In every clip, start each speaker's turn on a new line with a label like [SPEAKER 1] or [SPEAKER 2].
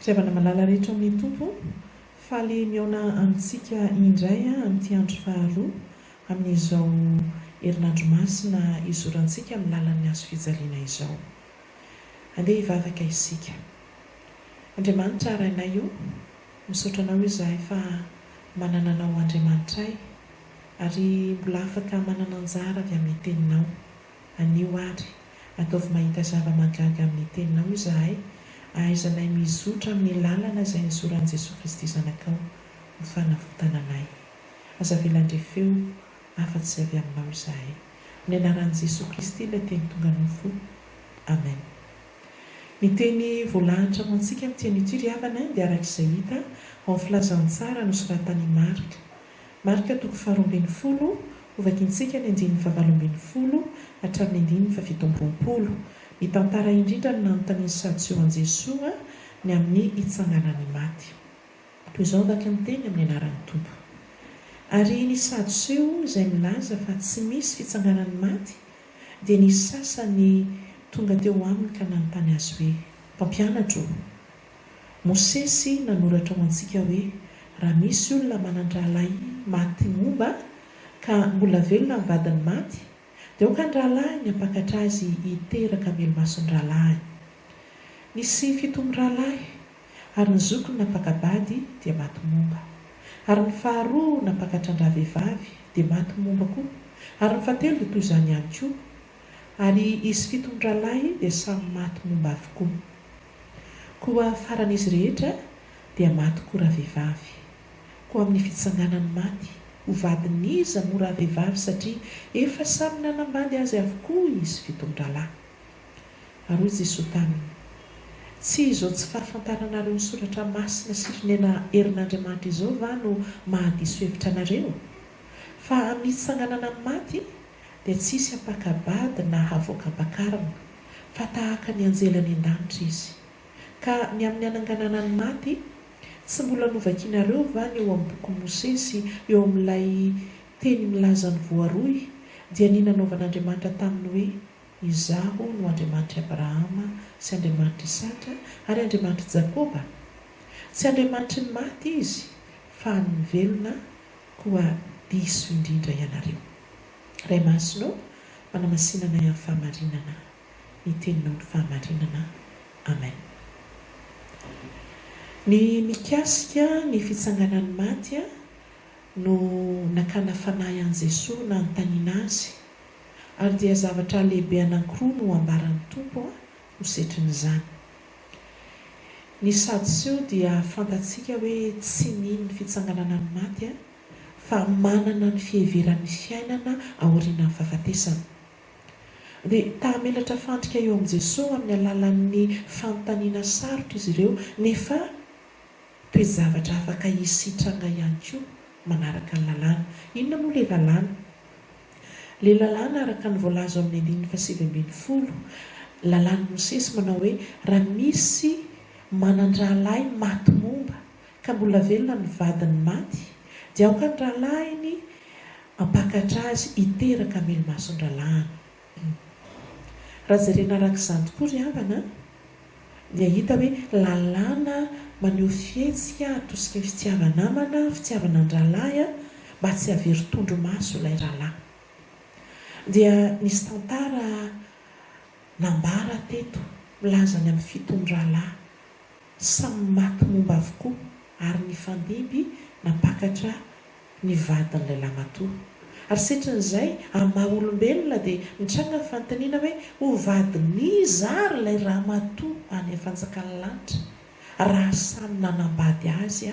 [SPEAKER 1] Firavana malala rehetra amin'ny Tompo, faly mihaona amintsika indray amin'ity andro faharoa amin'izao herinandro masina izorantsika amin'ny lalan'ny Hazo fijaliana izao. Andeha hivavaka isika. Andriamanitra Rainay o! Misaotra anao izahay fa manana anao Andriamanitray ary mbola afaka manana anjara avy amin'ny teninao. Anio ary, ataovy mahita zava-mahagaga amin'ny teninao izahay ahaizanay mizotra amin'ny lalana izay nizoran'i Jesoa Kristy Zanakao ho fanavotana anay. Aza avela handre feo afa-tsy izay avy aminao izahay. Amin'ny anaran'i Jesoa Kristy ilay teny tonga nofo. Amen. Ny teny voalahatra ho antsika amin'ity an'ity ry havana dia araka izay hita ao amin'ny filazantsara nosoratan'i Marc. Marc toko faharoa ambin'ny folo, hovakintsika ny andininy fahavalo ambin'ny folo hatramin'ny andininy fahafito amby roapolo. Mitantara indrindra ny nanontanian'i Sadio an'i Jesoa ny amin'ny hitsanganan'ny maty. Toy izao vaky ny teny amin'ny anaran'ny Tompo. Ary ny Sadoseo izay milaza fa tsy misy fitsanganan'ny maty Dia nisy sasany tonga teo aminy ka nanontany azy hoe, Mpampianatra ô, Mosesy nanoratra ho antsika hoe, Raha misy olona manan-drahalahy maty momba, ka mbola velona ny vadiny maty, dia aoka ny rahalahiny hampakatra azy hiteraka melo-maso ny rahalahiny. Nisy fito mirahalahy. Ary ny zokiny nampaka-bady dia maty momba. Ary ny faharoa nampakatran-dravehivavy, dia maty momba koa, ary ny fahatelo dia toy izany ihany koa, ary izy fito mirahalahy dia samy maty momba avokoa. Koa faran'izy rehetra dia maty koa ravehivavy. Koa amin'ny fitsanganan'ny maty, ho vadin'iza moa ravehivavy satria efa samy nanambady azy avokoa izy fito mirahalahy? Ary hoy Jesoa taminy, Tsy izao tsy fahafantaranareo ny soratra masina sy fonena herin'Andriamanitra izao va no mahadiso hevitra anareo? Fa amin'ny hitsanganana amin'ny maty dia tsy hisy hampaka-bady na havoaka ampakarina, fa tahaka ny anjely any an-danitra izy. Ka ny amin'ny hananganana ny maty, tsy mbola novakinareo va ny eo amin'ny bokin'i Mosesy eo amin'ilay teny milaza ny voaroy, dia ny nanaovan'Andriamanitra taminy hoe, Izaho no Andriamanitr'i Abrahama sy Andriamanitr'i Isaka ary Andriamanitr'i Jakoba? Tsy Andriamanitry ny maty Izy, fa an'ny velona, koa diso indrindra ianareo. Ray Masina ô, manamasina anay amin'ny fahamarinana, ny Teninao no fahamarinana. Amen. Ny mikasika ny fitsanganan'ny maty no nakana fanahy an'i Jesoa nanontaniana Azy Ary dia zavatra lehibe anankiroa no ambaran'ny Tompo ho setrin'izany. Ny Sadoseo dia fantatsika hoe tsy nino ny fitsanganana ny maty fa manana ny fiheveran'ny fiainana aorianan'ny fahafatesana. Dia ta-hamelatra fandrika eo amin'i Jesoa amin'ny alalan'ny fanontaniana sarotra izy ireo nefa toe-javatra afaka hisy hitranga ihany koa manaraka ny lalàna. Inona moa ilay lalàna? Ilay lalàna araka ny voalaza ao amin'ny andininy fahasivy ambin'ny folo, lalàn'i Mosesy manao hoe, Raha misy manan-drahalahy maty momba, ka mbola velona ny vadin'ny maty, dia aoka ny rahalahiny hampakatra azy hiteraka amin'ny ilomason-drahalahiny. Raha jerena araka izany tokoa ry havana an! dia hita hoe lalàna maneho fihetsika atosiky ny fitiava-namana, fitiavan'an-drahalahy mba tsy havery tondromaso ilay rahalahy. Dia nisy tantara nambara teto milaza ny amin'ny fitony rahalahy samy maty momba avokoa ary nifandimby nampakatra ny vadin'ilay lamatoa. Ary setrin'izay, amin'ny maha olombelona dia mitranga ny fanontaniana hoe, ho vadin'iza ary ilay ramatoa any fanjakan'ny lanitra raha samy nanambady azy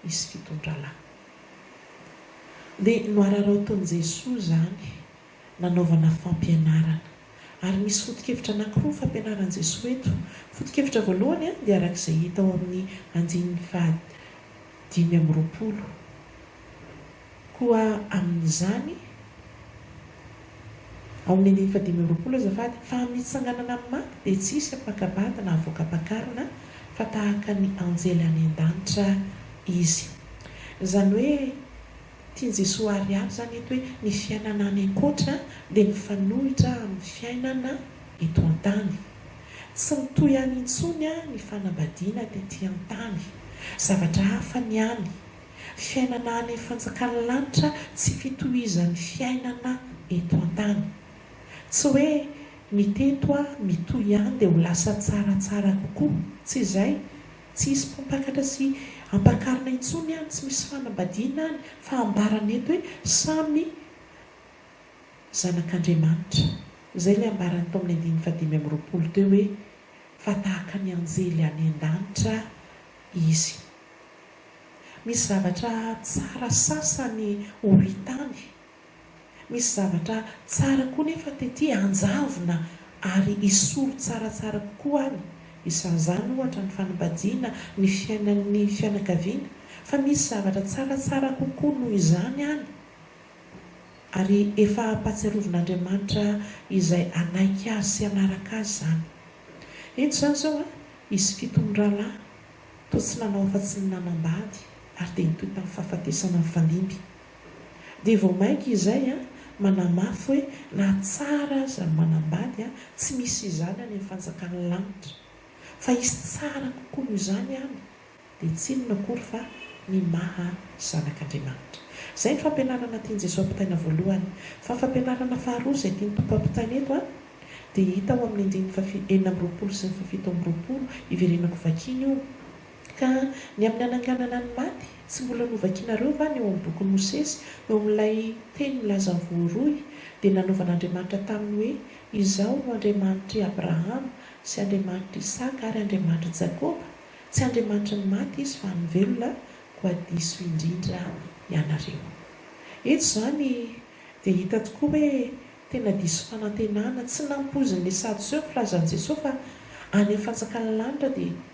[SPEAKER 1] izy fitondra lahy? Dia nohararaotin'i Jesoa izany nanaovana fampianarana. Ary misy foto-kevitra anankiroa fampianaran'i Jesoa eto. Foto-kevitra voalohany dia araka izay hita ao amin'ny andininy faha dimy amby roapolo, Koa amin'izany, ao amin'ny andininy faha dimy amby roapolo azafady, fa amin'ny hitsanganana amin'ny maty dia tsy hisy hampaka-bady na havoaka-pakarina fa tahaka ny anjely any an-danitra izy. Izany hoe. Tian'i Jesoa àry avy izany eto hoe ny fiainana any an-koatra dia mifanohitra amin'ny fiainana eto an-tany. Tsy mitohy any intsony ny fanambadiana tetỳ an-tany. Zavatra hafa ny any. Fiainana any amin'ny fanjakan'ny lanitra tsy fitohizan'ny fiainana eto an-tany. Tsy hoe ny teto mitohy any dia ho lasa tsaratsara kokoa. Tsy izay. Tsy hisy mpampakatra sy hampakarina intsony any, tsy misy fanambadiana any, fa ambarany eto hoe samy zanak'Andriamanitra. Izay ilay ambarany tao amin'ny andininy fahadimy amby roapolo teo hoe, Fa tahaka ny anjely any an-danitra izy. Misy zavatra tsara sasany ho hita any. Misy zavatra tsara koa nefa tety hanjavona ary hisolo tsaratsara kokoa any. Isan'izany ohatra ny fanambadiana, ny fiainan'ny fianakaviana. Fa misy zavatra tsaratsara kokoa noho izany any, ary efa ampahatsiarovin'Andriamanitra izay hanaiky Azy sy hanaraka Azy izany. Indro izany izao an, hisy fito mirahalahy, toa tsy nanao afa-tsy ny nanambady, ary dia nitohy tamin'ny fahafatesana nifandimby. Dia vao mainka izay manamafy hoe na tsara aza ny manambady, tsy misy izany any amin'ny fanjakan'ny lanitra. Fa hisy tsara kokoa noho izany any, dia tsy inona akory fa ny maha zanak'Andriamanitra. Izay ny fampianarana tian'i Jesoa ampitaina voalohany. Fa fampianarana faharoa izay tian'ny Tompo ampitaina eto dia hita ao amin'ny andininy faha enina amby roapolo sy ny faha fito amby roapolo, iverenako vakiana io. Ka ny amin'ny hananganana ny maty, tsy mbola novakinareo va ny ao amin'ny bokin'i Mosesy, eo amin'ilay teny milaza voaroy, dia nanaovan'Andriamanitra taminy hoe, Izaho no Andriamanitr'i Abrahama, sy Andriamanitr'i Isaka, ary Andriamanitr'i Jakoba? Tsy Andriamanitry ny maty Izy, fa ny velona, koa diso indrindra ianareo. Eto izany dia hita tokoa hoe tena diso fanantenana, tsy nampoizin'ny Sadoseo ny filazan'i Jesoa fa any amin'ny fanjakan'ny lanitra dia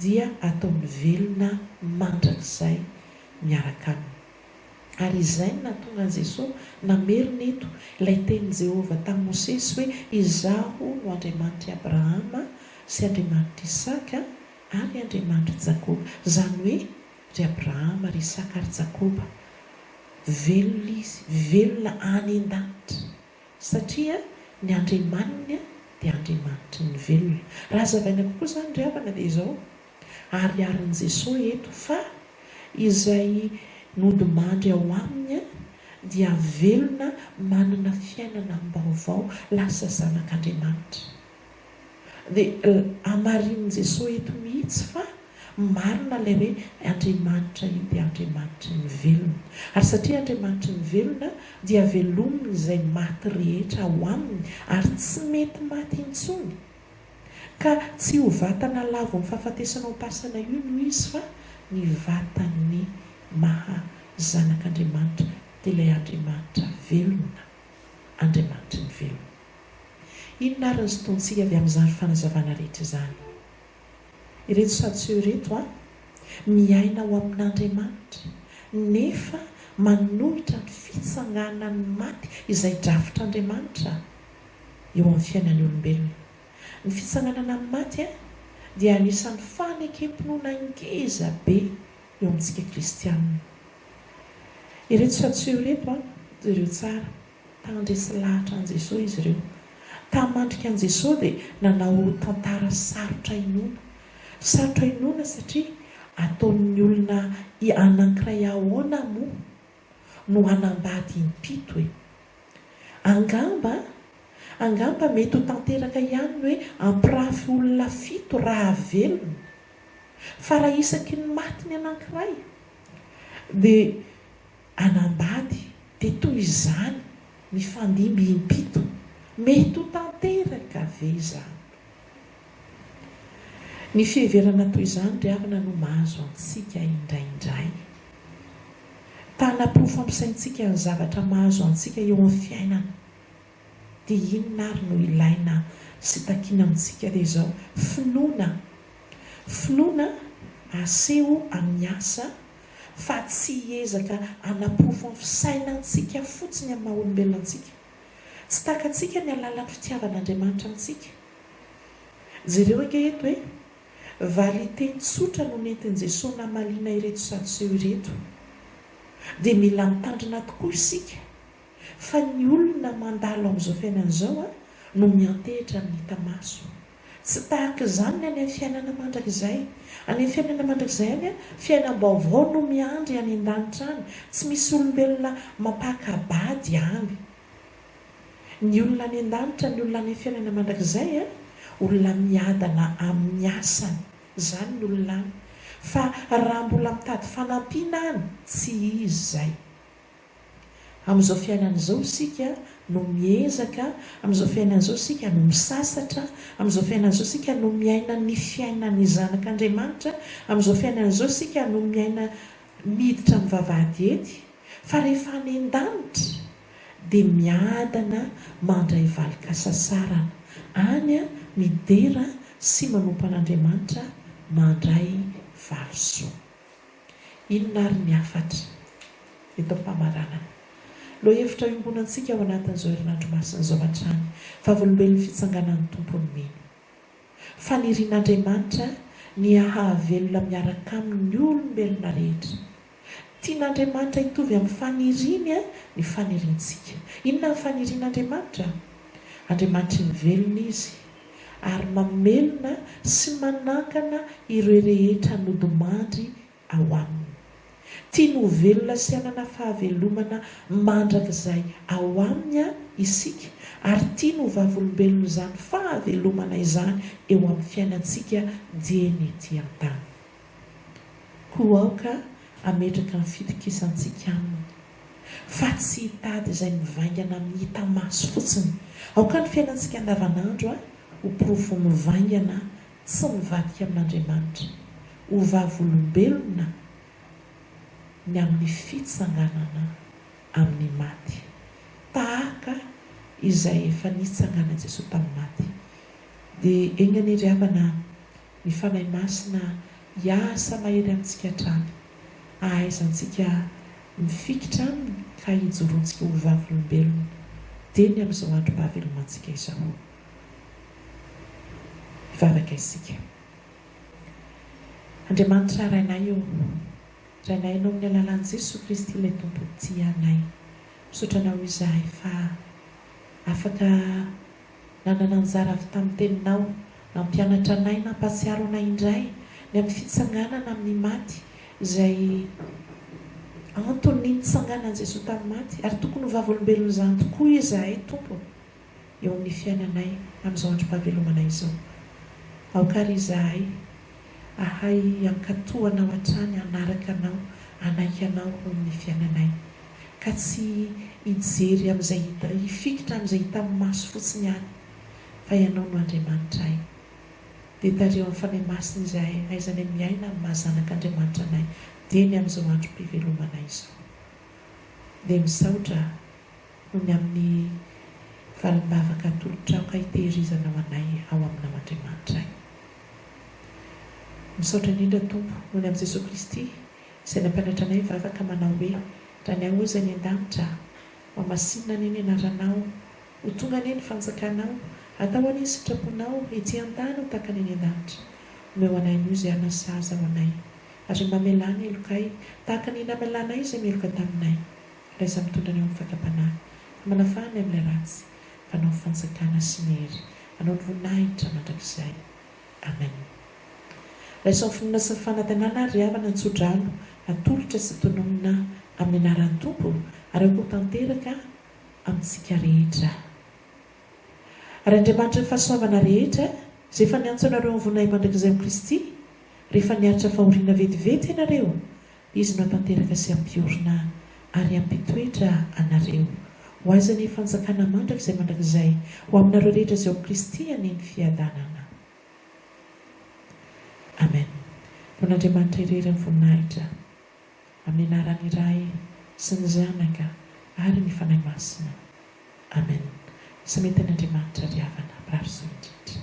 [SPEAKER 1] dia ataony velona mandrakizay miaraka aminy. Ary izay no nahatonga an'i Jesosy namerina eto ilay tenin'i Jehovah tamin'i Mosesy hoe, Izaho no Andriamanitr'i Abrahama sy Andriamanitr'i Isaka ary Andriamanitr'i Jakoba. Izany hoe, Ry Abrahama, ry Isaka ary Jakoba, velona izy, velona any an-danitra! Satria ny Andriamaniny dia Andriamanitry ny velona. Raha hazavaina kokoa izany ry havana dia izao, Ariarin'i Jesoa eto fa izay nodimandry ao Aminy dia velona manana fiainana am-baovao, lasa zanak'Andriamanitra. Dia hamarinin'i Jesoa eto mihitsy fa marina ilay hoe Andriamanitra io dia Andriamanitry ny velona. Ary satria Andriamanitry ny velona dia velominy izay maty rehetra ao aminy ary tsy mety maty intsony. Ka tsy io vatana lavon'ny fahafatesana ao am-pasana io no izy fa ny vatan'ny maha Zanak'Andriamanitra dia ilay Andriamanitra velona, Andriamanitry ny velona. Inona ary ny sotoantsika avy amin'izany fanazavana rehetra izany? Ireto Sadseo ireto a, miaina ao amin'Andriamanitra, nefa manohitra ny fitsanganan'ny maty izay drafitr'Andriamanitra eo amin'ny fiainan'ny olombelona. Ny fitsanganana amin'ny maty dia anisan'ny fanekem-pinoana ngeza be eo amintsika kristianina. Ireto Sadseo ireto a, jereo tsara. Tandresy lahatra an'i Jesoa izy ireo. Tamin'ny mandrika an'i Jesoa dia nanao tantara sarotra inoana. Sarotra inoana satria ataon'ny olona i anankiray ahoana moa no hanambady impito e? Angamba, angamba mety ho tanteraka ihany ny hoe hampirafy olona fito raha velona. Fa raha isaky ny maty ny anankiray dia. Anambady dia toy izany mifandimby impito, mety ho tanteraka ve izany? Ny fiheverana toy izany ry havana no mahazo antsika indraindray. Ta-hanaporofo ampisaintsika ny zavatra mahazo antsika eo amin'ny fiainana. Dia inona ary no ilaina sy takiana amintsika re izao? Finoana. Finoana aseho amin'ny asa fa tsy hiezaka hanaporofo ny fisainantsika fotsiny amin'ny maha-olombelona antsika. Tsy takatsika ny alalan'ny fitiavan'Andriamanitra antsika. Jereo ange eto e! Valin-teny tsotra no nentin'i Jesoa namaliana ireto Sadoseo ireto. Dia mila mitandrina tokoa isika Fa ny olona mandalo amin'izao fiainana izao no miantehitra amin'ny hita maso. Tsy tahaka izany ny any amin'ny fiainana mandrakizay. Any amin'ny fiainana mandrakizay any, fiainam-baovao no miandry any an-danitra any. Tsy misy olombelona mampaka-bady any. Ny olona any an-danitra, ny olona any amin'ny fiainana mandrakizay, olona miadana amin'ny asany. Izany ny olona any. Fa raha mbola mitady fanampiana any, tsy izy izay. Amin'izao fiainana izao isika no miezaka, amin'izao fiainana izao isika no misasatra, amin'izao fiainana izao isika no miaina ny fiainan'ny zanak'Andriamanitra, amin'izao fiainana izao isika no miaina miditra amin'ny vavahady ety, fa rehefa any an-danitra dia miadana mandray valin-kasasarana any midera sy manompo an'Andriamanitra mandray valisoa. Inona àry ny hafatra eto am-pamaranana? Lohahevitra iombonantsika ao anatin'izao herinandro masina izao hatrany, vavolombelon'ny fitsanganan'ny Tompo ny mino. Fanirian'Andriamanitra ny hahavelona miaraka Aminy ny olombelona rehetra. Tian'Andriamanitra hitovy amin'ny faniriany ny faniriantsika. Inona ny fanirian'Andriamanitra? Andriamanitry ny velona Izy, ary mamelona sy manangana ireo rehetra nodimandry ao Aminy. Tiany ho velona sy hanana fahavelomana mandrakizay ao Aminy isika, ary tiany ho vavolombelon'izany fahavelomana izany eo amin'ny fiainantsika dieny ety an-tany. Koa aoka hametraka ny fitokisantsika Aminy. fa tsy hitady izay mivaingana amin'ny hita maso fotsiny. Aoka ny fiainantsika andavanandro ho porofo mivaingana tsy mivadika amin'Andriamanitra ho vavolombelona ny amin'ny fitsanganana amin'ny maty, tahaka izay efa nitsanganan'i Jesoa tamin'ny maty. Dia eny anie ry havana, Ny Fanahy Masina hiasa mahery amintsika hatrany, hahaizantsika mifikitra Aminy ka hijorontsika ho vavolombelony teny amin'izao androm ahavelomantsika izao. Hivavaka isika. Andriamanitra Rainay ô, Rainay Ianao amin'ny alalan'i Jesoa Kristy ilay Tompo tia anay, misaotra Anao izahay fa afaka Nanana anjara avy tamin'ny Teninao nampianatra anay nampahatsiaro anay indray ny amin'ny fitsanganana amin'ny maty izay anton'ny nitsanganan'i Jesoa tamin'ny maty ary tokony ho vavolombelon'izany tokoa izahay Tompo eo amin'ny fiainanay amin'izao androm-pahavelomana izao. Aoka ary izahay. Hahay hankato Anao hatrany hanaraka Anao hanaiky Anao ho amin'ny fiainanay ka tsy hijery amin'izay hita hifikitra amin'izay hita amin'ny maso fotsiny ihany fa Ianao no Andriamanitray dia tariho amin'ny Fanahy Masina izahay hahaizanay miaina amin'ny maha zanak'Andriamanitra anay dieny amin'izao androm-pivelomanay izao dia misaotra noho ny amin'ny valim-bavaka atolotrao ka hitehirizanao anay ao Aminao Andriamanitray. Misaotra indrindra Tompo noho ny amin'i Jesoa Kristy izay nampianatra anay hivavaka manao hoe, Ra ny Ao Izy any an-danitra, Mamasinina anie ny anaranao, ho tonga anie ny fanjakanao, atao anie ny sitraponao ety an-tany ho tahaka ny any an-danitra. Omeo anay anio izay hanasazy ao anay ary mamelà ny helokay tahaka ny namelanay izay meloka taminay. Raisa mitondra anay ho amin'ny fakam-panahy, ary manafaha anay amin'ilay ratsy. Fanao fanjakana sy ny hery. Anao ny voninahitra mandrakizay. Amen. Laisaon'ny finoana sy ny fanatenana ary ry havana ny tsodrano atolotra sy tononina amin'ny anaran'ny Tompo ary akoho tanteraka amintsika rehetra. Ary Andriamanitry ny fahasoavana rehetra izay efa niantso anareo amin'ny voninahimandrakizay amin'i Kristy rehefa niaritra fahoriana vetivety ianareo Izy no hatanteraka sy hampiorina ary hampitoetra anareo. Ho Azy anie fanjakana mandrakizay mandrakizay, ho aminareo rehetra izay ao Kristy anie ny fiadanana. Amen. Ho an'Andriamanitra irery ny voninahitra, amin'ny anaran'ny Ray sy ny Zanaka ary ny Fanahy Masina. Amen. Sametan'Andriamanitra ry havana, mpirary soa indrindra.